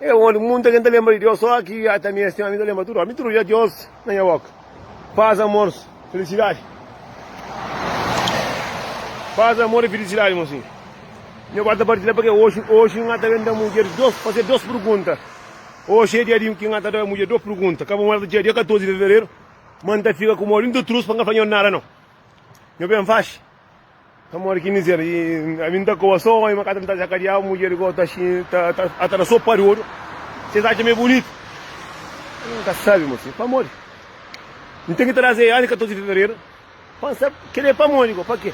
É óndi ki munta ken ta lenbra di Deus sô ki ata mi es ten ami ta lenbra tudu óras mi trudja Deus na nha boka paz amor filisidadi paz amor e filisidadi mon sin mi agora ta partilha pake oxi oxi nha ta ben da mudjer dos faze dos pergunta oxi é dia di ki nha ta da mudjer dos pergunta ka bo mora ta txia dia 14 di fevereru ma n ta fika ku modi n ta trus pa n ka fla nhos nada nau nho ben faxi. Pamodi ki mizer i ami N ta koba so omi, ma ka ta nta ja kadiau Mudjer i gotu axi ata na so pariodu si es atxa ma e bunitu Ami N ka sabi ma si pamodi N ten ki traze Ani 14 di fevereru pa N sabi kel é pamodi go pa ke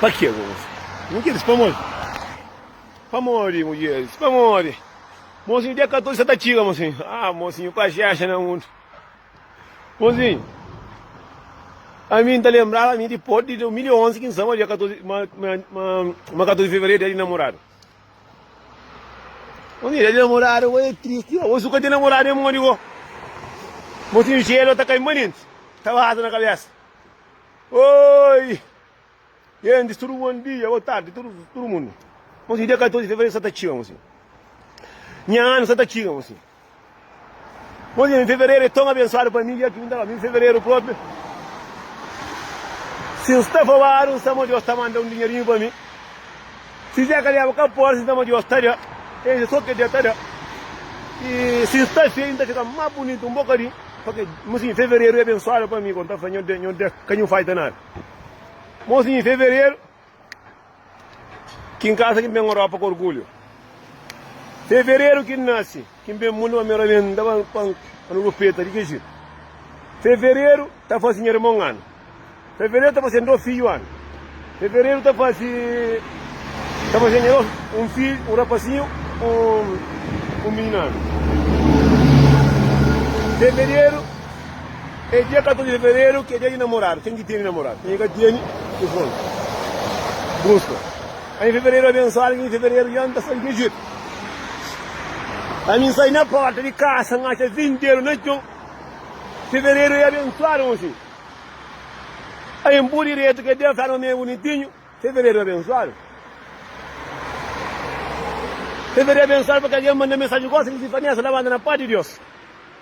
pa ke go gosi N ke dise pamodi pamodi mudjer dise pamodi mosinhu dia 14 sa ta txiga mosinhu ah mosinhu ku axi axi na mundu. Bonzinho, ami N ta lenbraba ami di pode di 2011 ki N saba dja 14 ma ma ma ma 14 di fevereru dia di namoradu. Bonzinho, dia di namoradu bo e tristi bo, bo su ka ten namoradu e modi bo? Bonzinho, jelu ta kai mba nenti, ta baza na kabesa. Oi! Gentis, tudu bon dia, ô tardi, tudu tudu mundu. Mon si dia 14 di fevereru sa ta txiga, mon si. Nha anu sa ta txiga, mon si. Mon si, fevereru é ton abensuadu pa mi, dia ki inda mi fevereru propi. Si N sta fobadu, N sa ma Deus ta manda un dinherinhu pa mi. Si Zé Kalheba ka pobri, N sa ma Deus ta da. N sa so ke Deus ta da. I si N sta feju, N ta fika más bunitu un bokadinhu. Pabia, mon si, fevereru é abensuadu pa mi, kon ta fla, Nho Deus, nho Deus ka nhu falta nada. Mozinho, Fevereru Ki N kasa ki N ben Europa ku orgulhu Fevereru ki N nase ki N ben mundu Pamera bes N ta ba pa N rupeta di ke jitu Fevereru ta fase nha irmon anu Fevereru ta fase do fidju anu Fevereru ta fase ta fase nha dos un fidju un rapasinhu un un mininu anu Fevereru. É dia 14 de fevereru ki é dia di namoradu. Ken ki tene namoradu, ken ki ka tene ki fronta. Buska ami fevereru abensuadu ki mi fevereru dja N ta sai djejetu. Ami N sai na porta di kasa N atxa vinteru na txon Fevereru é abensuadu mon fidju Ami N bu diretu kel dia N fla-nu ami é bunitinhu Fevereru é abensuadu Fevereru é abensuadu pa kel dia N manda mensaji gosi N di si Vanesa la manda na pas di Dios.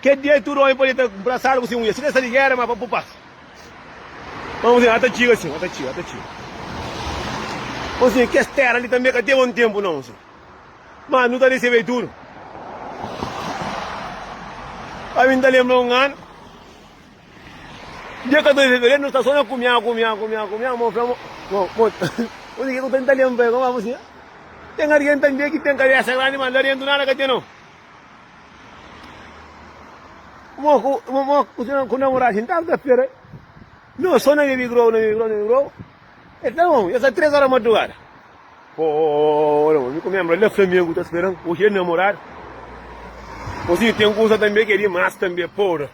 Kel dia tudu omi pode ta nprasadu ku se mudjer, si ka sta di gera, ma pa bu pas. Má nbósi, ata txiga sin, ata txiga, ata txiga. Nbósi, kes tera li tanbe ka teve un tenpu nau sin, ma nu ta resebe tudu. Ami nta lenbra un anu, dia 14 di fevereru, nu sta so na kumia, kumia, kumia, kumia, ma un fla ma, ma, ma, nbósi, ke ku ta nta lenbra? Nbósi, ten algen tanbe ki ten kabesa grandi, ma la dentu nada ka ten nau. Mo ku, mo, mo ku, ku namorá sin tava ta spera. No so na baby grow, na baby grow, na baby grow. E ta bom, esa três hora madrugada. Oh, não, me comembra lá Flamengo tá esperando. Hoje é namorado. Hoje tem coisa também que é demais também, porra.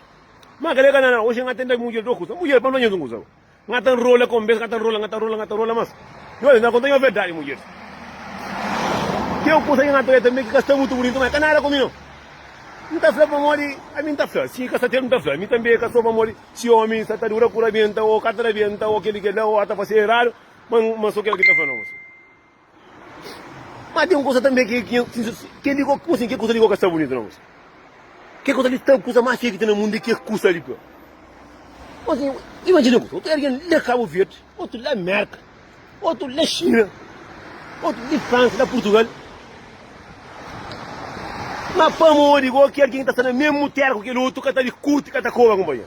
Mas galera, não, hoje não tem mulher do coisa. Mulher para nós não coisa. Nga ta nrola ka un bes, nga ta nrola, nga ta nrola, nga ta nrola mas i ola, na konta-m nha verdadi mudjer. Ki un kusa ki nga ta oja tanbe ki ka sta mutu bunitu, ma i ka nada ku mi no. N ta fla pamodi ami N ta fla, si ka sta teru N ta fla. Mi tanbe ka sta pamodi si omi sta ta dura ku rabienta o ka ta rabienta o kel-li kel-la o a ta fase eradu, ma N so kel ki ta fla no, mosu. Má ten un kuza tanbê ki ki kel li kóka, kuzê? Kel kuza li kóka sta bunitu na gosi. Kel kuza li sta kuza más feia ki ten na mundu é kel kuza li. Kuzê? Imajina kuza, otu algen li na Kabu Verdi, otu li na Mérka, otu li na Xina, otu li na Fransa, na Purtugal. Má pamodi kóki algen ki ta sta na mésmu téra ku kel otu ka ta likuti, ka ta koba, kunpanheru?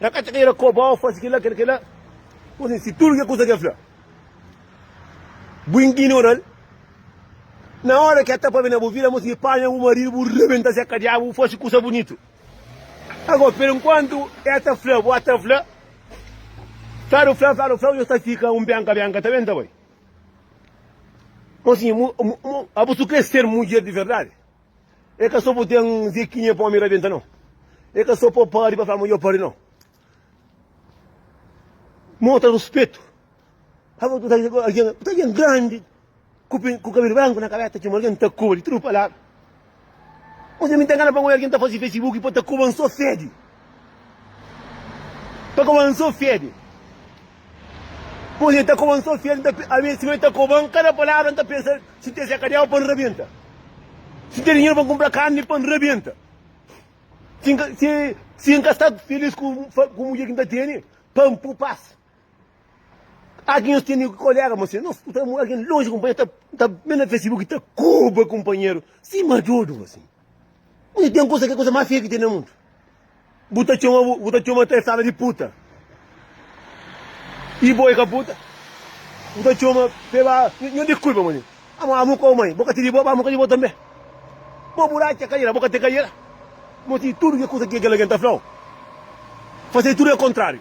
Na ka ta ira koba-u fase kel-la, kel-la, kel-la. Pô, sin si tudu kel kusa ki el fla, bu inginora-l, na óra ki el ta pâpia na bu vida, mos ki panha bu maridu, bu rebenta se kadiaba, bu faxi kusa bunitu. Ago, per inkuantu, el ta fla, bo ta fla, fla-u, fla-u, fla-u, fla-u, nhos ta fika un benka, benka, ta ben, ta bai. Mos ki, mo, mo, mo, abusu krê ser mudjer di verdadi? E ka so bu ten zekinha pa omi rabenta no. E ka so pa padri pa fla ma yo padri no. Mostra respeito. Hava tu sai com alguém, tu alguém grande, com, com cabelo branco na cabeça, tinha alguém tá cobre, tudo palavra. Você me tem ganas para alguém tá fazendo Facebook para tá cobrando só sede. Ta koban so fede. Pois ta koban so fede, ta a ves siñor ta koban kada palavra nta pensa si ten sakadeau pa nrabenta. Si ten dinheiro pa nkumpra karni pa nrabenta. Si nka si si nka sta feliz ku ku mudjer ki nta tene pa npu pas. Aki nhos tene kolega ma sen nhos nta algen lonji kunpanheru nta nta me na fesibuki ta koba kunpanheru si majodu ma sen. Ui ten kusa ki é kusa más feio ki ten na mundu. Bu ta txoma bu, bu ta txoma kel sala di puta. E bo é ka puta. Bu ta txoma pe ba, nho diskulpa mô. Amo amo kau mai, bo ka ti di bo, ba amo ka di bo tanbe. Bo bu ratxa kaiera, bo ka te kaiera. Moti tudu ki kusa ki kel algen ta flau, fase tudu é kontráriu.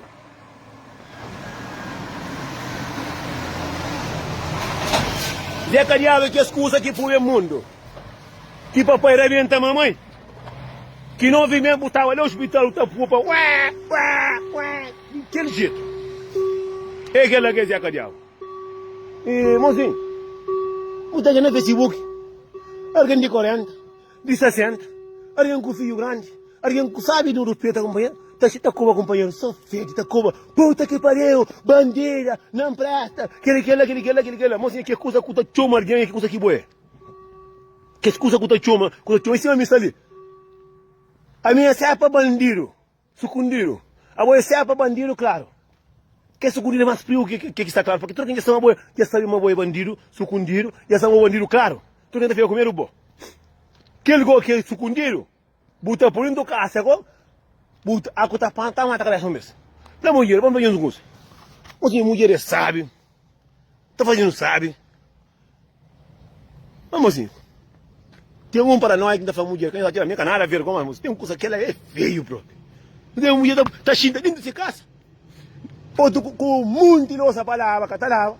Dja kadiadu kes kuza ki pube mundu Ki papai rabenta mamai Ki novi mé bu tava la ospital bu ta pupa Ué ué ué di kel jetu É kel la ki es dja kadiadu Ih mozinhu bu ta ka na facebook Algen di 40. Di sa sértu, algen ku fiju grandi, algen ku sábi i nu ruspeta kunpanheru, ta seta koba kunpanheru so fedi, ta koba, Puta ki pariu, bandida, na npresta, kel i kel-la, kel i kel-la, kel i kel-la. Má siña, kes kuza ku ta txoma algen é kes kuza ki bo é. Kes kuza ku ta txoma, ku ta txoma, i sima mi sta li, ami é sérpa bandidu. Sukundidu. Abo e sepa bandidu klaru. Ke sukundidu e mas priu ke ke ki sta klaru. Pake tudu ken dja sta ma bo e dja sabi ma bo e bandidu sukundidu. Dja sta ma bo bandidu klaru. Tudu ken ta fika ku medu bo. Kel go ke sukundidu bu ta po dentu kasa go bu aku ta panta mata kalesa un bes. Fla mudjer, bam fla nhos un kusa. Nhos nhos mudjer e sabi. Ta faze-nu sabi. Má, mozinhu, ten un paranóia ki N ta fla mudjer, ka atira mi, ka nada a ver ku ômi. Ten kusa, kel-la é feiu própi. Nu ten un mudjer ta, ta xinta déntu di se kasa, otu ku, ku un monti losa pa laba, ka ta laba,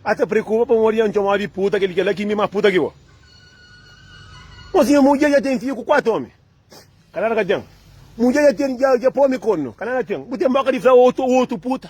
a ta preokupa pamodi N txoma-u di puta, kel, kel-la ki mi más puta ki bo. Mozinhu, mudjer dja ten fidju ku kuatu ômi? Ka nada ka ten. Mudjer dja ten, dja, dja pô-mi kornu? Ka nada ten. Bu ten bóka di fla otu, otu puta?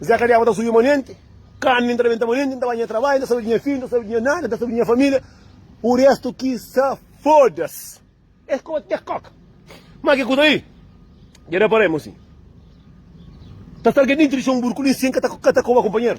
Zé ka deba ta subi monenti, karni N ta rebenta monenti, N ta ba nha trabadju, N ta sabe di nha fidju, N ta sabe di nha nada, N ta sabe di nha familia, u restu ki sa fodas. Es koba te koka. Ma ke kuza li? Dja da pa remu si. Ta sta algen dintu di son burku li si N ka ta koba kunpanheru?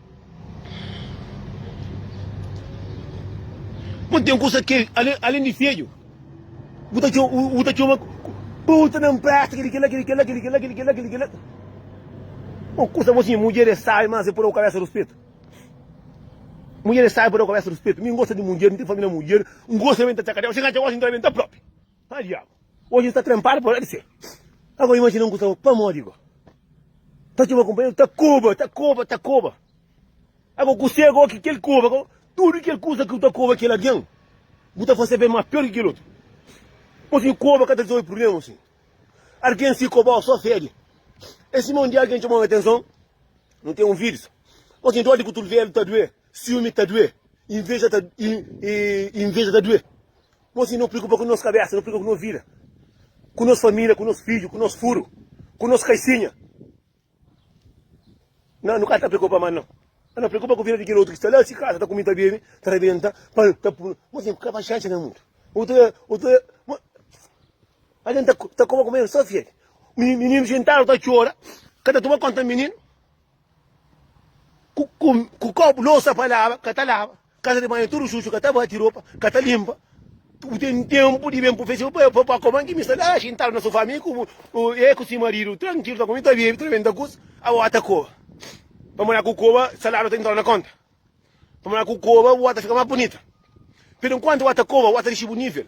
Ma n ten kusa ki alen di fedju bu ta txoma, bu ta txoma pa otu na-m presta kel-li, kel-la, kel-li, kel-la, kel-li, kel-la, kel-li, kel-la, kel-li, kel-la. Bon, kusa bo sinha, mudjer é sábi, mas é pa da-u kabésa ruspetu. Mudjer é sábi pa da-u kabésa ruspetu. Mi n gosta di mudjer, mi ten família mudjer, n gosta ben ta txakadja, xinga-dja, gosi, n tra ben ta própi. Haa diabu, oji nu ta trenpadu pa la di se. Ago imajina un ku staba pamodi go. Ta txoma kunpanheru ta koba, ta koba, ta koba. Ago ku se go ki kel koba go, tudu kel kusa ki bu ta koba kel algen, bu ta fase ben ma pior ki kel otu. Oji nu koba ka ta rizolve prublemas asin. Argen si kobau so fede. E sima un dia algen txomau no atenson, nu ten un virus. Oji nu dodi ku tulvelu ta due. Siumi ta due, inveja ta inveja ta due. Nós não preocupa com nossa cabeça, não preocupa com nossa vida, com nossa família, com nosso filho, com nosso furo, com nossa caixinha. Não, não está preocupa mais não. Não preocupa com a vida de quem outro que está lá, se casa, está comida bem, está rebenta, para tá por, mas é porque vai chance no mundo. Outra, outra, a gente tá como comer só fiel. Menino sentado tá chora, cada toma conta menino. Ku, ku, ku kopu, losa pa laba, ka ta laba. Kasa di banhu tudu xuxu, ka ta bati ropa, ka ta linpa. Bu ten tenpu di ben pa festa, pa, pa, pa kuma ki mi sta la xintadu na sofá, mi ku bu, bu, e ku si maridu, trankilu, ta kumi, ta bebe, ta benta kusa. Aba bota koba. Pamodi na ku koba saladu ta intradu na konta. Pamodi na ku koba bu aba ta fika más bunita. Peru nkuantu bu aba ta koba, bu aba ta dixi bu nivel.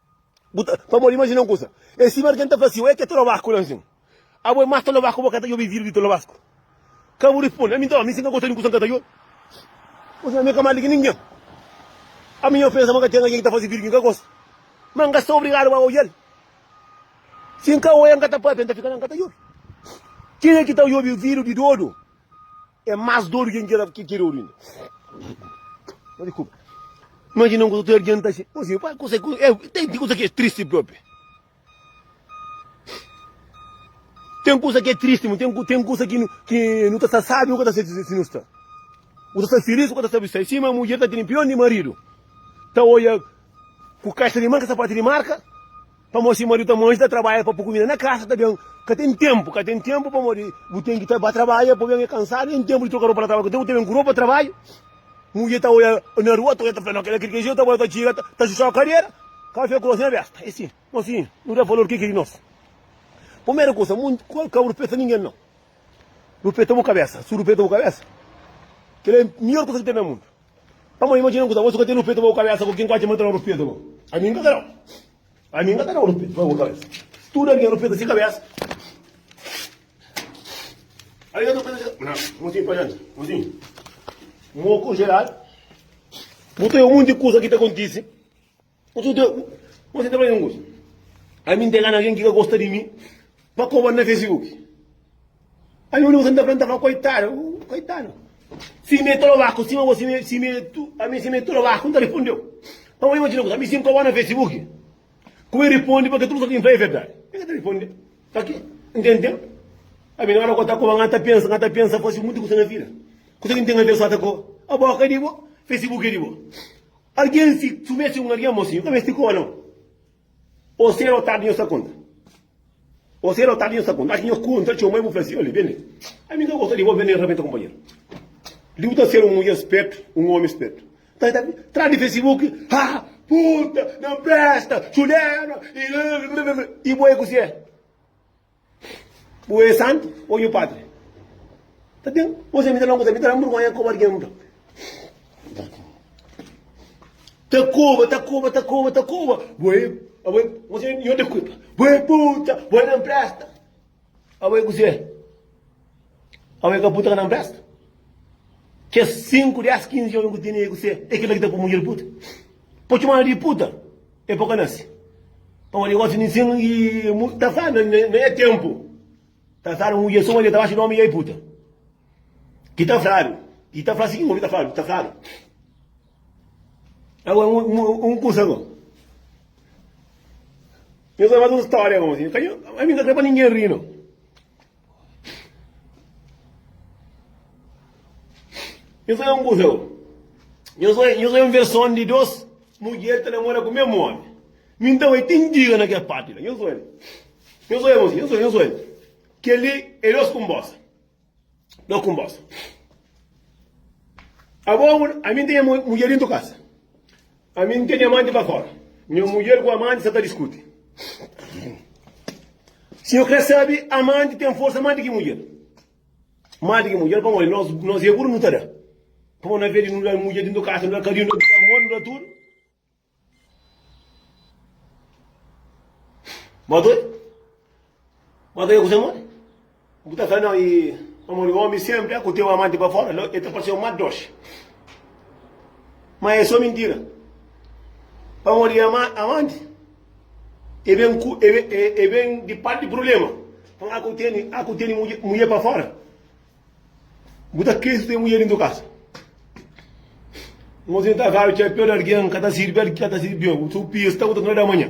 Bu ta, pamodi imajina un kusa, é sima di ken ta fla si, Ué, ki é tolobaku la nsin? Abo é más tolobaku, bo ka ta djobe vidru di tolobasku? Ka bu responde, ami nton, ami si ka gosta di un kusa, N ka ta djobe. Nsin, ami ka mal di ki ningen. Ami nha pensa ma ka ten algen ki ta faze vidru ki N ka gosta, ma N ka sta obrigadu pa odja-l. Si N ka odja, N ka ta pâpia, N ta fika la, N ka ta djobe. Kenha ki ta djobe vidru di dodu? É más dóru ki N ki keda oru inda. Má diskulpa. Imajina un kuza ta ardienta asin. Ô si, pa kusa ki. É, ten di kuza ki é tristi própi. Ten kuza ki é tristi, ma ten, ten kuza ki, ki nu ta sta sábi, nu ka ta sta si nu sta. Nu ta sta filís, nu ka ta sta bistá. É sima mudjer ta tene pion di maridu. Ta odja ku kaixa di manka, sapatu di marka. Pamodi si mariu ta manji, ta trabadja pa pô kumida na kasa, ta ben ka ten tenpu. Ka ten tenpu pamodi bu ten ki ta ba trabadja, pô ben e kansadu, nen tenpu di troka ropa na trabadju. Ka ten ku ta ben ku ropa trabadju. Mudjer ta odja na rua, ta odja, ta fla, No, kel-la kri kri. Jezu ta bai, ta txiga, ta xuxa ku kadera, kafé ku rosi na besta. E si nos finhu no da valor, ke ki di nos? Purmeru kusa, mu ka ruspeta ningen, no. Ruspeta bu kabesa. Si bu ruspeta bu kabesa, kel-la e midjór kusa ki ten na mundu. Pamodi imajina un kuza, Bo su ka ten rupeta pa bu kabesa ku kin ku atxa ma el ta da un rupeta bo? Ami N ka ta da-u. Ami N ka ta da un rupeta pa bu kabesa. Tudu algen rupeta si kabesa. Algen rupeta si kabesa. Na, mosinhu pa janta. Mosinhu, moku, jeladu. Bu ta obi monti kuza ki ta kontise. Otu dia, kumesa ta fla mi un kuza, Ami N ta gana algen ki ka gosta di mi pa koba-l na Facebook. Ami un dia N ta fla-l, N ta fla, Koitadu, koitadu, sima e trobaku, sima bo, sima e, sima e tu, ami sima e trobaku, N ta rispondeu. Má bo imajina kuza, ami si N koba-l na Facebook, kuma e riponde pa ke tudu kuza ki N fla é verdadi? Ke ke ta riponde? Pa ke? N ten ténpu. Ami na óra ki N ta koba-l, N ta pensa, N ta pensa fase monti kuza na vida. Kuza ki N ten na tera sô ata koba. Abo ka é di bo, Facebook é di bo. Algen si submete un algen mosinhu ka meste koma non. O sedu o tardi nho sta konta. O sedu o tardi nho sta konta. Achi nho konta txeu ma e bu fla si, Olhe bene, ami ka gosta di bo, bene rabenta konpanheru. Li bu ta sedu un mudjer spertu, un omi spertu. Ta ta tra di facebook, ha, puta, nan presta, txulena, i. I bo e ku si e. Bu é santu ô nhu padri? Ta ben, kuzê mi ta fla-u? Kuzê mi ta fla-u? N burgonha koba algen nunka. Ta koba, ta koba, ta koba, ta koba. Bu é, abu é, kuzê, nhu ta kuta. Bu é puta, bu é na npresta. Abu é kuzê? Ome ka puta ka na mpresta. Kes 5, 10, 15 ome ku tene e ku se, e kila ki ta po mudjer puta. Po txomadu di puta e po ka nase. Pabia di gosi ninsin i mu ta fla na nha tenpu ta fladu mudjer suma di ta baxa di ome i el puta. Ki ta fladu, i ta fla sikin, ome ta fladu, ta fladu. Agora un kusa ko. Nhos ta fasi un storia gosi, ami ka kre pa ningen ri no. Nhos é un kuzau. Nhos é, nhos é un versão de dois mulher que namora com o mesmo homem. Então é tem diga naquela parte lá. Nhos olha. Nhos olha, moço. Nhos olha, nhos olha. Que ali é dois com bossa. Dois com bossa. Agora, a mim tem mulher dentro de casa. Ami n ten nha amanti pa fora. Nha mudjer ku amanti sa ta diskuti. Si nu kre sabe, amanti ten forsa más di ki mudjer. Más di ki mudjer pamodi nos, nos é buru nu ta da. Pamodi na vez di nu da mudjer dintu kasa, nu da karinhu, nu da amor, nu da tudu. Ba doi. Mô ta fika kuzê modi? Bu ta fla no i pamodi omi senpri a ku teu amanti pa fora, lo e ta parseu ma doxi. Ma e so mintira. Pamodi ama, amanti e ben ku e ben, e, e ben di parti di prublema. Nton a ku teni, a ku teni mudje, mudje pa fora. Bu ta kri su teu mudje dintu kasa. Mô sin ta fla txapeu di argen ka ta sirbi, ka ta sirbi bem. Su pista bu ta tuna da manha.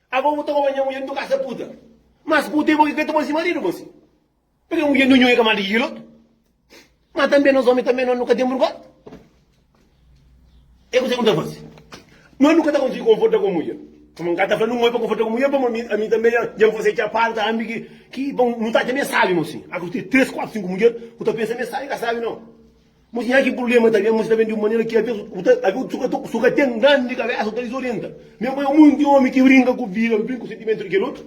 Abo bu ta roba nha mudjer di tu kasa puta mas ku tempu ki ka ta poi si maridu bo si pika mudjer di un nhoi ka manda ki lotu ma tambe nos omi tambe nos nu ka ten burgota e kuse ku ta fasi nos nu ka ta konsigi konforta ku mudjer kuma nka ta fla nu moi pa konforta ku mudjer pamo ami ami tambe nha nha fase txapadu ta ami ki ki bon nu ta atxa me sabi mo si aku ten tres kuatu sinku mudjer ku ta pensa me sabi ka sabi no. Mos nha ki prublema ta ben, mos ta ben di un manera ki avês u ta avê u su ka ten grandi kabésa, u ta dizorienta. Mê bai omi, un di omi ki brinka ku vida, bu bin ku sentimentu di kel otu.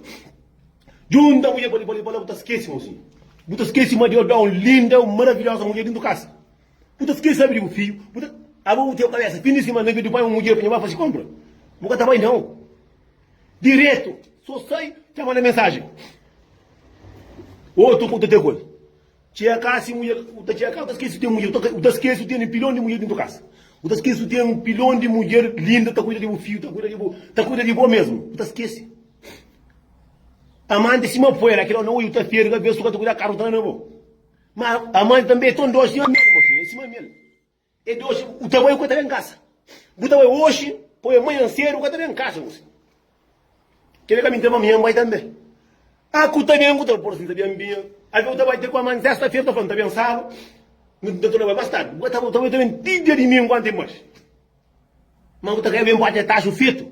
Djunta mudjer pa li, pa li, pa la bu ta skese mo si. Bu ta skese ma Deus da un linda, un maravilhosa mudjer dentu kasa. Bu ta skese abi di bu fidju, bu ta. Aba bu ten kabésa fin di simana ki bu bai un mudjer pa nha bai fase konpra. Bu ka ta bai nau. Diretu, so sai, ta manda mensajen. Otu ku ta ta koza. Txeká si mudjer, u ta txeká, u ta skese si u ten mudjer, u ta skese si u tene pilon di mudjer dintu kasa, u ta skese si u ten pilon di mudjer linda ta kuida di bu fiju, ta kuida di bu, ta kuida di bo mesmu, u ta skese. Amanti sima puera, kila no oju ta feri kabesu ka ta kuida karus ta na bo. Ma amanti tanbe é ton dosi sima mel, mosinha, é sima mel. E di oxi bu ta bai ku e ta ben kasa. Bu ta bai oxi poi amanhan sedu ku e ta ben kasa gosi. Kila ka mi ta mamia nbai tambe. A ku ta ben ku ta por si sabia nbia. Avia u ta bai te ku aman sesta fera u ta fla nta ben sabu nu ta torna bai mas tardi. Bu ta bai u ta ben ti dia dimingu anti nbaxi. Ma u ta ka ben pati e taxu fetu.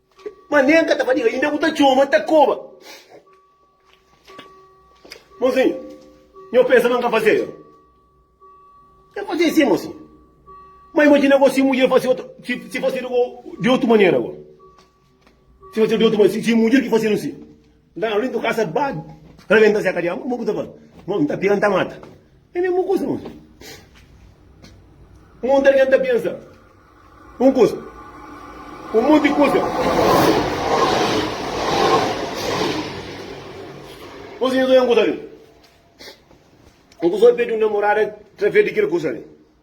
Ma nen ka ta fadiga inda bu ta txoma ta koba Mozinho, nho pensa ma N ka fazê ero N fazê si mozinho Ma imajina go si mudjer fazê otu si fazê di otu manera go Si fazê di otu manera si mudjer ki fazê-nu si. Nta na lintu kasa ba rabenta seka di amba, mo ku ta fal? Mo nta pira nta mata. E mesmu kusa nos. Un monti algen ta pensa un kusa, un monti kusa. Nos inda ta oja un kusa li. Un kusa pedi un namorada trafia di kel kusa li.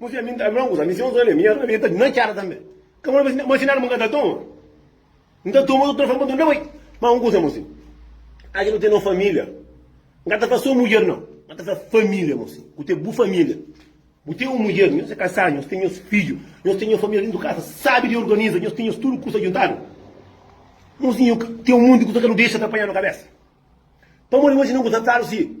Mo fia mi nta abri un kusa mi si un zone mi abri mi na cara tambe ka mo na ma sinal mo ka ta toma nta toma o telefone pa tunda bai ma un kusa mo si aji no tene un familia nka ta fla so mudjer nau ma ta fla familia mo si bu te bu familia bu te un mudjer nhos e kasadu nhos ten nhos fidju nhos ten nhos familia dentu kasa sabi di organiza nhos ten nhos tudu kusa djuntadu mo si nhu ten un monti kusa ka no dexa ta panha no kabesa pamodi mo si na un kusa flaru si.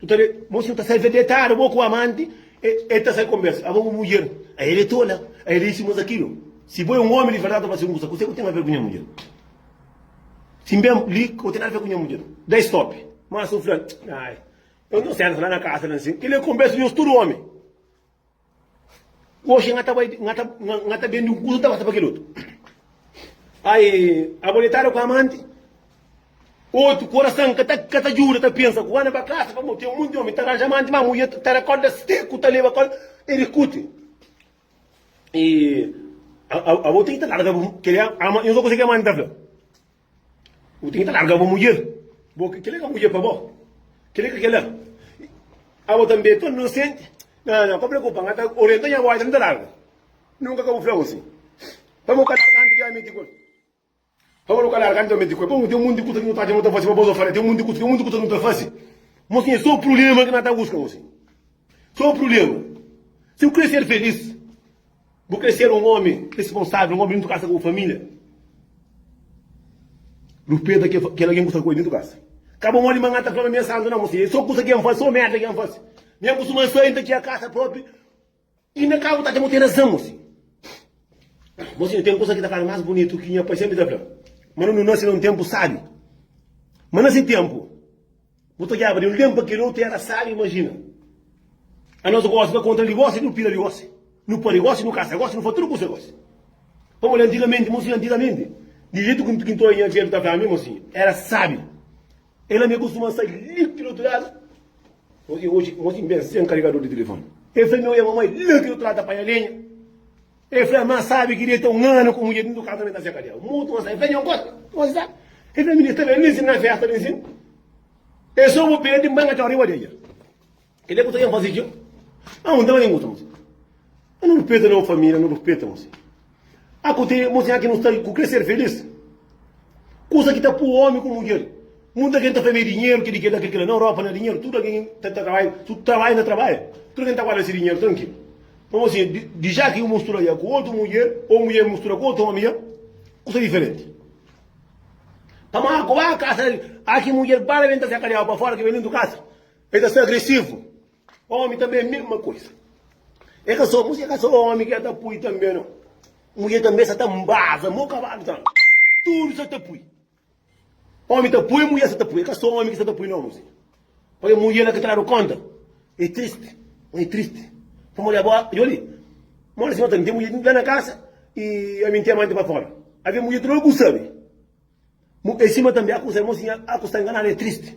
Bu ta ben Mon si bu ta sai fé detada bo ku amanti el ta sai konbersa abo bu mudjer a el é tola a el é isi mas akilo si bo é un omi di verdadi ta fla si kusa kuse ku ten a ver ku nha mudjer si ben li ka bu ten nada fé ku nha mudjer da stop mas un fla ai eu nta senta la na kasa la nsin kel é konbersa nhos tudu omi. Oxi nha ta bai nha ta nha ta bendi un kuza ta pasa pa kel otu. Ai abo detadu ku amanti otu korasan ka ta ka ta djuda ta pensa ku ana ba kasa pamo ten monti omi ta ranja amanti ma mudjer ta da korda seku ta leba kol e diskuti i abo ten ki ta larga kel nha ta konsigi amanti ta fla. Bu tinha ta larga bo mudjer. Bo ke kel la ka mudjer pa bo. Kel ka kel la. Abo tambe ton inosente. Nan nan ka preokupa nga ta orienta nha boy dam ta larga. Nunka ka bu fla bo si. Pa bo ka larga anti di ameti ku el. Pa bo ka larga anti di ameti ku el. Pabia ten munti kusa ki nu ta atxa nu ta fasi pa bo so fala ten munti kusa ten munti kusa ki nu ta fasi. Mos tinha so prulema ki na ta buska gosi. Sô prubléma. Si bu krê ser felís, bu krê ser un ómi responsável, un ómi di dentro di kasa ku bu família, ruspeta kel algen ki bu sta ku el dentro di kasa. Ka bo modi ma N ta fla ma mi é santu. Nau, mô, é sô kusa ki N fase, sô merda ki N fase. Mi N kustuma sai, N ta txiga kasa própi i na kabu ta atxa ma bu ten razan, mô sinhu. Mô sinhu, ten kusa ki ta fladu más bunitu ki nha pai sénpri ta fla-m, ma nu nase na un ténpu sábi. Ma na se ténpu. Bu ta odjaba di un den pa kel otu era sal imajina anos gosi na kontra di gosi nu pira di gosi nu pari gosi nu kasa gosi nu faz tudu kusa gosi pamodi antigamenti mosinha antigamenti di jetu ki ki ntoia nha jetu ta fla mi mosinha era sabi ela mi kustuma sai liki di otu ladu mosinha oji mosinha ben sen karigador di telefoni el fla mi oia mamai liki di otu ladu ta panha lenha El fla, Má sábi ki deita un anu ku mudjer dintu kaza, menta fia kadiau. Mutu más ta ben. Fla, Djon kota, koma si sta? El fla, Minista, ben ninsin na fésta, ninsin. El soba pé di mbanga txor riba deja. Kel é ku ta ben faze djon. A un ta ben guta, mosi. A nu rupeta no família, nu rupeta, mosi. A ku te mosi aki nu sta ku kre ser felis. Kusa ki ta pô ómi ku mudjer. Mutu algen ta fla ma é dinheru, ki di kel-la, kel-la. Na Europa, na dinheru, tudu algen ta trabalha, tudu trabalha na trabalha. Tudu algen ta guarda se dinheru trankilu. Pamodi si é di ja ki un mustura ja ku otu mudjer ô mudjer mustura ku otu ómi ja, kusa diferenti. Pamodi a kuba kasa del, a ki mudjer bala ben ta se kadiaba pa fora ki ben dintu kasa, el ta sta agresivu. Ómi tanbe é mesma kusa. É ka so mudjer, é ka so ómi ki el ta pui tanbe no. Mudjer tanbe sa ta nbaza mo kabadu ta. Tudu sa ta pui. Omi ta pui mujer sa ta pui e ka so omi ki sa ta pui no muzika pa e mujer la ki ta dadu konta e tristi ma e tristi pamodi abo djo li modi si no ta mi ten mujer la na kasa y ami n ten amanti pa fora avia mujer tudu lugar ku sabi e sima tanbe aku sa irmon si nha aku sta nganadu e tristi.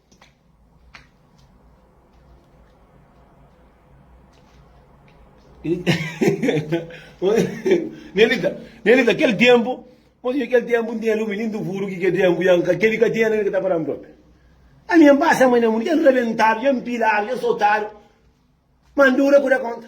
Nelita, Nelita, kel ténpu, modi kel ténpu nten lumi, nin duvuru ki kel ténpu ya nka, kel li ka ten, nin ka ta para-m propi. Ami ya npasa mai na mundu, ya nrebentadu, ya npiladu, ya sotadu, ma ndura kuda konta.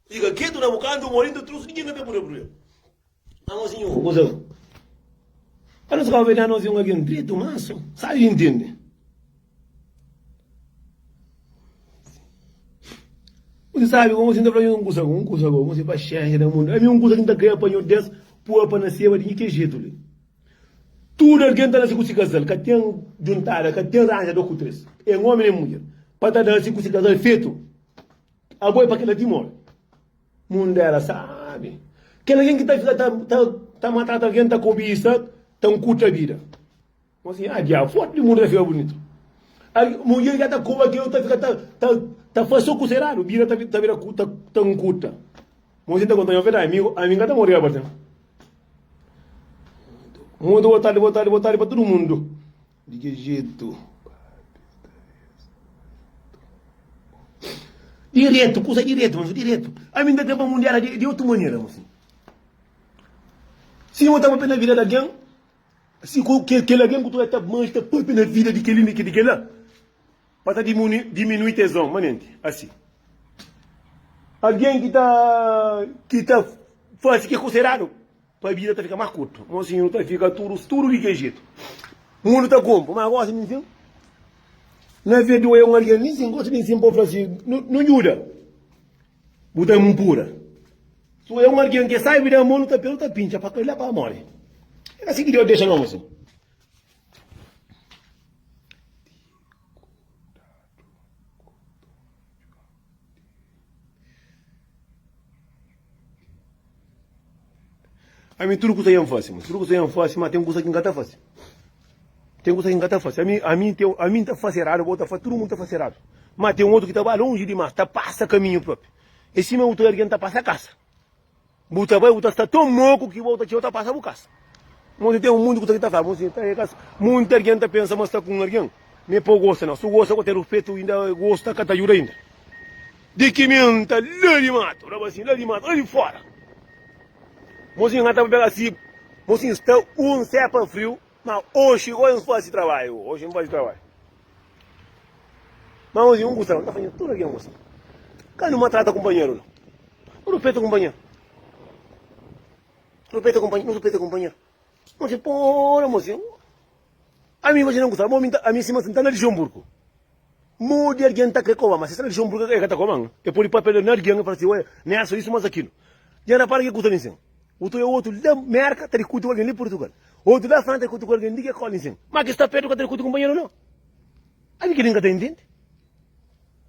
Fika ketu na bu kantu un orinta trus ninguém ka ta pode oprimi el na nos inho o goza un pa nos kau vede na nos inho algen dretu manso sabi i ntende un sabi como sinta fla un kusa un kusa como se paxenxa na mundu ami un kusa ki nta kre apanho des pua pa na seba di nhi ke jetu li tudu algen ta nase ku si kazal ka ten juntada ka ten ranja do ku tres en omi nen mudjer pa ta da si ku si kazal fetu Abo é pa kela dimon. Mundu éra sábi. Kel algen ki ta fika ta, ta, ta matata algen, ta kobisa, ta nkuta bida. Mon si, ah, diabu, fotu di mundu ta fika bunitu. Mudjer ki ta koba kel, ta fika ta, ta, ta fase o kusa eradu, bida ta, ta bira ta, ta nkuta. Mon si, ta konta nha verdade, ami, ami ka ta morri abartin. Muito boa tarde, boa tarde, boa tarde para todo mundo. Di ki jetu? Diretu, kusa diretu, manso diretu. Ami N ta ten pa mundial la di otu manera, manso. Si N ta papia na vida di algen, si ku kel algen ku ta bai N ta papia na vida di kel li, na di kel la, pa ta diminui tezon. Manenti asi. Algen ki ta fasi ki é konsideradu. Pa bida ta fika más kurtu. Mozinhu ta fika tudu studu di kel jetu. Mundu ta kunpu, má gosi di nsin. Na verde oia un algen di nsin, gosi di nsin pa bu fla si, Nu djuda bu ta inpura. Si oia un algen ki é sábi di amor, nu ta pena, nu ta pintxa pa kel-la pa móre. É asi ki Deus dexa nos. Ami tudu kusa N fase, ma tudu kusa N fase, ma ten kusa ki N ka ta fase. Ten kusa ki N ka ta fase. Ami, ami, ten, ami N ta fase eradu, bo ta fase, tudu mundu ta fase eradu. Ma ten otu ki ta ba lonji dimás, ta pasa kaminhu própi. É sima otu algen ta pasa kasa. Bu ta bai, bu ta sta tão moku ki bô ta txeu ta pasa bu kasa. Mon si tem um mundo ku ta ki ta fala, mon si ta é kasa. Munti argen ta pensa ma sta ku um argen, me pô gosta nau. Su gosta ku ter rufetu inda gosta ka ta juda inda. Di ki min ta la di matu, la ba si, la di matu, la di fora. Mon si nga ta pega si, mon si sta um sepa friu. Ma oxi oi N fazi trabadju oxi N fazi trabadju ma oxi N gusta N ta fazi tudu ki N gusta ka nu matrata kunpanheru no nu rupeta kunpanheru nu rupeta kunpanheru nu rupeta kunpanheru oxi pora mosi ami oxi N ta gusta bo ami sima si N ta na Lixenburgu. Modi algen ta kre koba-m? Má si es ta na dixan-m pur ki el ka ta koba-m, el pode pâpia na algen i fla si, Oia, N atxa isu más akilu. Dja N rapara ki kuza li insin? Otu dia, otu la Mérka ta dikuti ku algen li Purtugal. Otu la Fransa ta dikuti ku algen di ki kóla insin. Má ki sta pértu ka ta dikuti ku kunpanheru, nau. Ami kel-li N ka ta intende.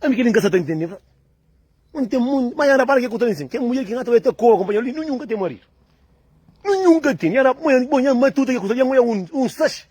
Ami kel-li N ka sta ta intende. Má N ten mundu. Má dja N rapara ki kuza li insin, kel mudjer ki N ata oia ta koba kunpanheru li, nunhun ka ten maridu. Nunhun ka ten. Dja N rapara. Bon, dja N matuta ki kuza li, dja N oia un saxi.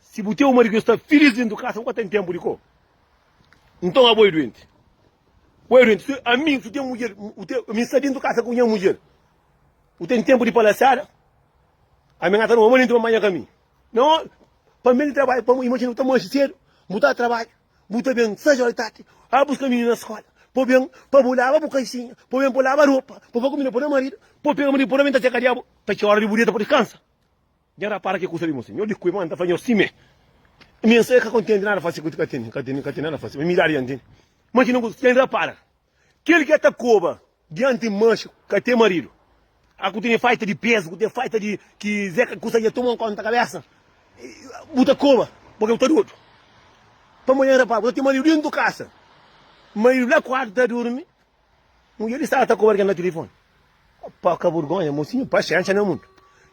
Si bu ten un maridu ki sta filís dentu di kasa, bu ka ten tenpu di ko? Nton abo e duenti. Bo e duenti. Si ami, si bu ten mudjer, bu ten, ami sta dentu di kasa ku nha mudjer, bu ten tenpu di palasiada? Ami nga ta ruma manenti pa manha ka mi? No! Pa mi el trabadja, pa, imajina bu ta manxi sedu, bu ta trabadja, bu ta ben sais ora di tardi, a buska mininu na skola, pa ben, pa bu laba bu kaisinha, pa ben, pa bu laba ropa, pa bu fla kumida pa bu maridu, pa bu pega maridu pa bu ta ben ta txeka di abo, ta txeu ora di bu dieta pa diskansa. Dja rapara ke kusa li mostra? Nho di kui ma nta fla nho si me mi nsa ka kontenti nada fasi ku ka teni ka teni ka teni nada fasi mi dadi yanti ma ki nunku ten rapara kel ke ta koba dianti manxi ka ten maridu a ku teni faita di pezu ku ten faita di ki ze ka kusa dja toma konta kabesa bu ta koba pake bu ta dodu pamodi nho rapara bu ta ten maridu dentu kasa maridu la kuartu ta durmi. Mudjer li staba ta koba algen na tilifoni. Opa, ka burgonha, mosinhu, paxénxa na mundu.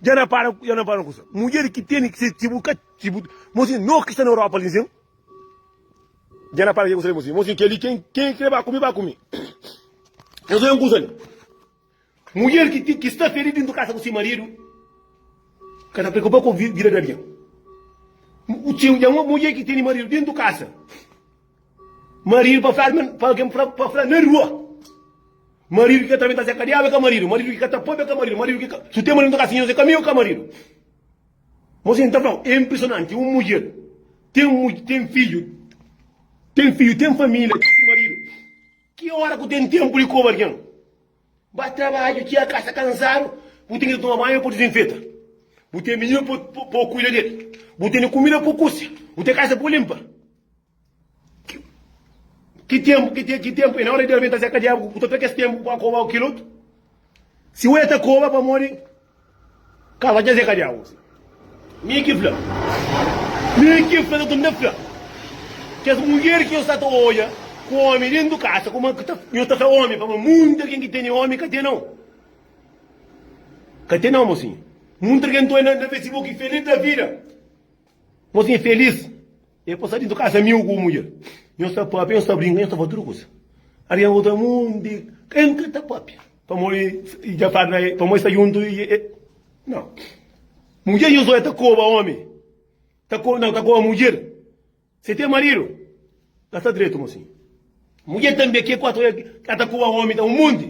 Dja na para, dja na para un kusa. Mudjer ki tene ki ser txibu, ka txibu. Mosinhu, no ki sta na Europa li zen. Dja na para ki kusa li, mosinhu. Mosinhu, kel li, ken, ken krê ba ku mi, ba ku mi. Nhos len kusa li. Mudjer ki sta feridu dintu kasa ku si maridu ka ta preokupa ku vida di algen. Dja un mudjer ki tene maridu dintu kasa, maridu pa fladu pa algen pa fladu na rua, maridu ki ka ta benta se kadiaba ka maridu, maridu ki ka ta pabia ka maridu, maridu ki ka su ten maridu dintu kasa inhosa ka miu ka maridu. Mos N ta flau e inpresonanti un mudjer ten fidju, ten fidju, ten familia, ten si maridu ki ora ku ten tenpu di koba algen. Ba trabadju txia ka sta kansadu bu ten ki ta toma banhu pa dizinfeta bu ten mininu pa pa kuida del bu tene kumida pa kusia bu ten kasa pa linpa ki ki tenpu ki te ki tenpu e na ora del ben ta seka diabu bu ta tra kes tenpu pa koba kil otu si oja ta koba pamodi Kaba dja zeka dja uzi. Mi ki fla. Mi ki fla sa tunda fla. Kes mulher ki nhos sta ta odja ku omi dentu kasa kuma ki ta nhos ta fla omi pamó munti algen ki tene omi ka tenau. Ka tenau mosinha. Munti algen ta odja na Facebook ki feliz da vida. Mosinha feliz. E pasa dintu kasa miu ku mudjer. Nhos ta papia, nhos ta brinka, nhos ta fazi tudu kusa. Arian volta mundi. N ka ta papia. Pamodi i dja fla na el, pamodi sta djuntu i e. Nau. Mudjer di Josué ta koba omi. Ta koba, nau, ta koba mudjer. Se ten maridu, ka sta dretu mo sin. Mudjer tanbe, ke kuatu el ka ta koba omi ta un monti.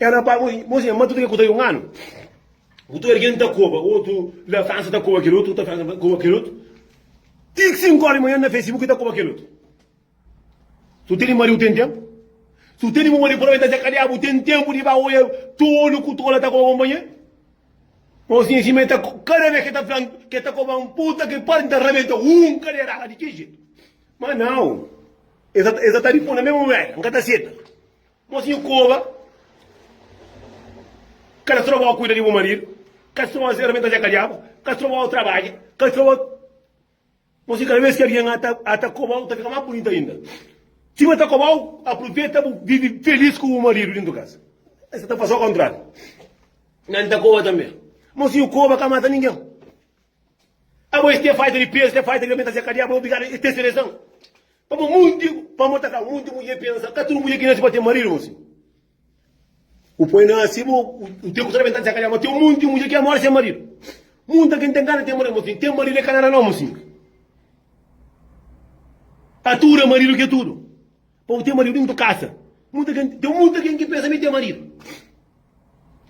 Ela na pâ-bu, bo si, ma tudu kel ku ta un anu, ku tudu algen ta koba, otu la Fransa ta koba kel otu, ta Fransa ta koba kel otu, ti ki sinku óra di manhan na Facebook ta koba kel otu. Si bu tene mariu ten ténpu? Si bu tene bu mariu provavelmenti ta sekadiá, bu ten ténpu di ba oja tolu ku tola ta koba konpanheru? Bo si, si ma el ta, kada bes ki el ta fla-m ki el ta koba-m, puta ki pariu, N ta rabenta un kaderada di ki jetu. Ma nau, el sa ta, el sa ta riponde-m mé, Mô Wéria, N ka ta seta. Mosinhu koba Kal stroba au kuida di bu maridu Kal stroba au serventa dja ka djaba Kal stroba au trabadja Kal stroba au Mosinhu kada bes ki algen ata kobau ta fika más bunita ainda Si bu ata kobau apruveta bu vivi felis ku bu maridu dintu kasa Es ta fasi au kontrariu Nan ta koba tanbe Mosinhu koba ka mata ningen Abo es ten faita di pezu ten faita di alimentasia ka djaba obligadu es ten seleson Pamo munti, pamo ta ka munti mudje pensa, ka tudu mudje ki nase pa ten maridu mo si bu poi nase bu bu ten ku ta bentadi dja ma ten munti mudje ki amora se maridu. Munta kin ten gana ten maridu mo si ten maridu e ka nada no mo si. Ka tudu maridu ke tudu. Pa bu ten maridu dintu kasa. Munta kin ten munta kin ki pensa mi ten maridu.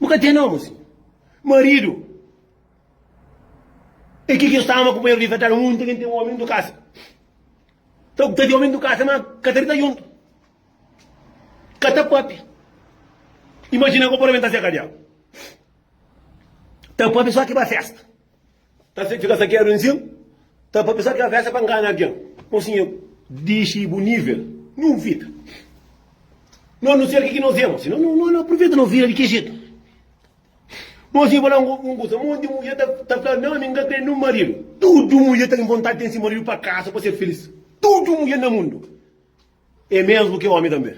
Bu ka ten no mo si. Maridu E ki ki N staba, ma kunpanheru di Fetela un nunti kin ten omi ndu kasa. Ta ku ta di omi ndu kasa, ma ka ta di ta juntu, ka ta papia. Imajina ku purba mi ta seka diagu. Ta papia so ki ba festa. Ta fika sakedu nsin, ta papia so ki ba festa pa ngana algin. Mon sinhor, dixi bu nivel, no vida. No, no ser ki ki no fia, mon sinhor. No, no, no apruveta no vida di ki jetu. Mos i fla-m un kuza, monti mudjer ta fla, Nau, mi n ka krê nen un maridu. Tudu mudjer ta ten vontadi di ten se maridu pa kaza, pa ser filís. Tudu mudjer na mundu é mésmu ki ómi tanbê.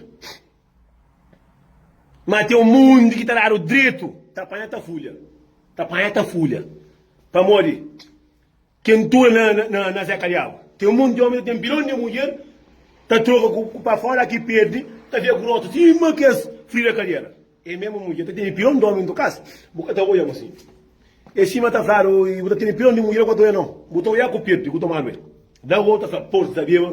Má ten monti ki ta dadu dretu, ta panha ta fulha. Ta panha ta fulha. Pamodi? Ken tu é na Zé Kalhau. Ten un monti di omi ta ten bilon di mudjer ta troka ku pa fora a ki perdi ta fia ku rotu sima kes frira kadera é mesmu mudjer ta tene bilon di omi nto kas bu ka ta oia mu si é sima ta fladu i bu ta tene bilon di mudjer ku ta oia no bu ta oia ku perdi ku tomadu el da bo ta fla por sabeba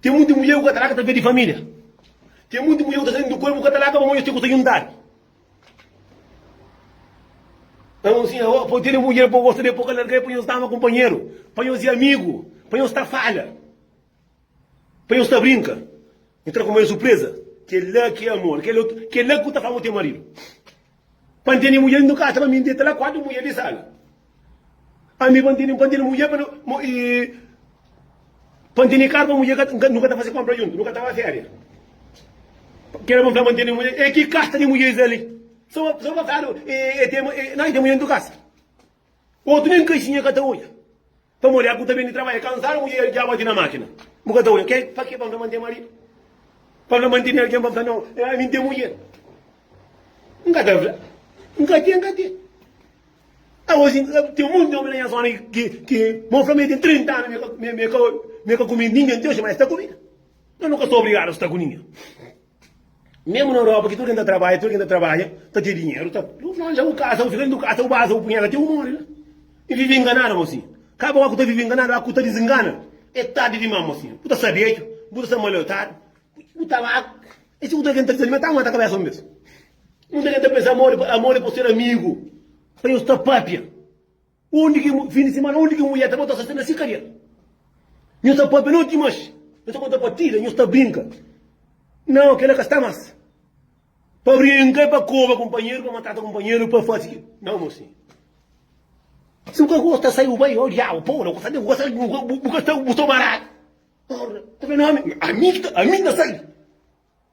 Ten munti mulher ku ka ta laka ta perde familia. Ten munti mulher ku ta sali di kol, bu ka ta laka pamodi es ten ku ta juntadu. N fla sin, Awa, pode tene mulher bo gosta del, bo ka larga el pa nhos dama kunpanheru, pa nhos i amigu, pa nhos ta fala, pa nhos ta brinka. N tra kuma el surpresa. Kela ki é amor. Kela ki bu ta fla ma bu ten maridu. Pa N tene mudjer N nu kasa pa mi N deta la kuatu mudjer di sala Ami pa N tene pa N tene mudjer pa nu i Pa N tene karu pa mudjer ka ta nu ka ta fase konpra juntu nu ka ta ba feria Ke la pa N fla pa N tene mudjer e ki kasta di mudjer es ali so so pa fla no e tene e na e tene mudjer N tu kasa. Otu nen kaxinha ka ta odja. Pamodi el ku ta ben di trabadja kansadu, mudjer el dja bati na makina. Bu ka ta odja kel? Pake pa N ta mantén maridu? Pa N ta mantén algen pa N fla, Nau, ami N ten mudjer? N ka ta fla. N ka ten, N ka ten. Agosi, ten monti di omi na nha zona ki ma bu fla ma e ten 30 anu, mi e ka kume ninha ati oji, ma e sta ku mi. Nau, nu ka sta obrigadu sta ku ninha. Mesmu na Europa ki tudu ken ta trabadja, tudu ken ta trabadja ta ten dinheru, ta bu franja bu kasa, bu fika dentu kasa, bu baza bu punheta ti bu mori la. E vivi inganadu mo si. Kaba oca ku ta vivi inganadu, oca ku ta dizingana, e tardi dimas mo si. Bu ta sta bedju, bu ta sta maliotadu, bu ta ba e si ku ta ken ta dizalima e ta aguenta kabesa un bes. Munda ken ta pensa amor amor e pa ser amigu, pa nhos sta papia. Undi ki fin di simana undi ki mulher ta bota sosté na si kabel nhu ta pâpia noti mas nhu ta konta partida nhu sta brinka nau kela ka sta mas pa brinka é pa koba kunpanheru pa matata kunpanheru pa fasi ki nau mosin si bu ka gosta sai bu bai oh diabu pô la ku sabe bu ka sai bu ka sta bu sta baradu ora ta ben ami ami ki ta ami ki ta sai.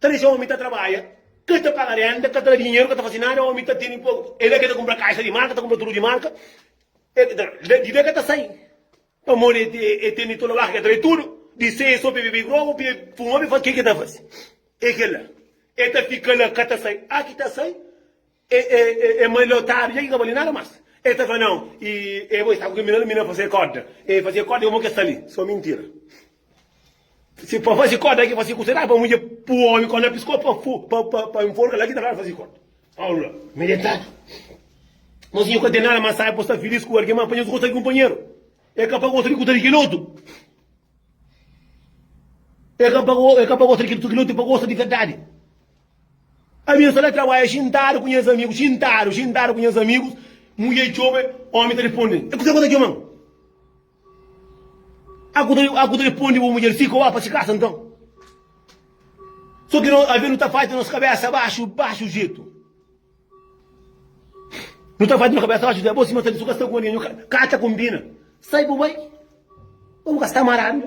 Ta dexa omi ta trabadja, ka ta paga renda, ka ta da dinheru, ka ta fasi nada, omi ta tene poku, e la ke ta kumpra kaixa di marka, ta kumpra tudu di marka, di la ke ta sai, pamodi e tene tudu labaku, ke ta bai tudu, di sai e so pe bebe grogu, pe fuma, pe fasi ke ke ta fasi, e ke la, e ta fika la ka ta sai, a ki ta sai. E e malhotadu dja ki ka bali nada mas e ta fla nau e e bo e sta ku kel mina la mina fase koda e fase koda e mo ke sta li so mintira si pa fase koda ki fase kusa da pa mudje pu omi kon lapis ko pa fu pa pa pa inforka la ki ta fla fase koda Paulu la malhotadu mo sinhor ka ten nada mas sai bo sta filis ku algen ma panha su gosta kunpanheru e ka pa gosta di kuta di kel otu e ka pa e ka pa gosta di kel otu e pa gosta di verdadi. Ami N sta na trabadja xintadu ku nhas amigus, xintadu, xintadu ku nhas amigus, mudjer txobe, omi ta responde-l, E kuzê ku ta txoma-m? A ku ta responde bu mudjer, Fika oba pa se kasa nton. So ki no avê nu ta fatxa nos kabésa baxu, baxu jetu. Nu ta fatxa nos kabésa baxu jetu. Bo sima sabe, su ka sta ku algen, ka ta konbina. Sai bu bai, pa bu ka sta maradu.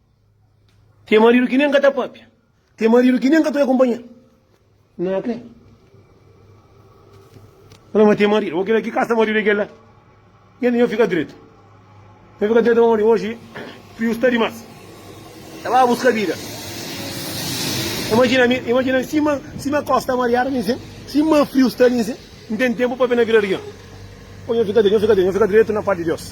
Ten maridu ki nen ka ta pâpia. Ten maridu ki nen ka ta akunpanha-l na kre. Fala, ma ten maridu. Ô, kel-la, ki kasa maridu é kel-la? Kel-la, nha fika dretu. Nha fika dretu, pamodi oji friu sta dimás. Ta ba buska bida. Imajina mi, imajina mi, sima, sima kos sta mariadu ali nsin, sima friu sta ali nsin, N ten ténpu pa ben na bira di kel-la. Ô, nha fika dretu, nha fika dretu, nha fika dretu na pâpia di Deus.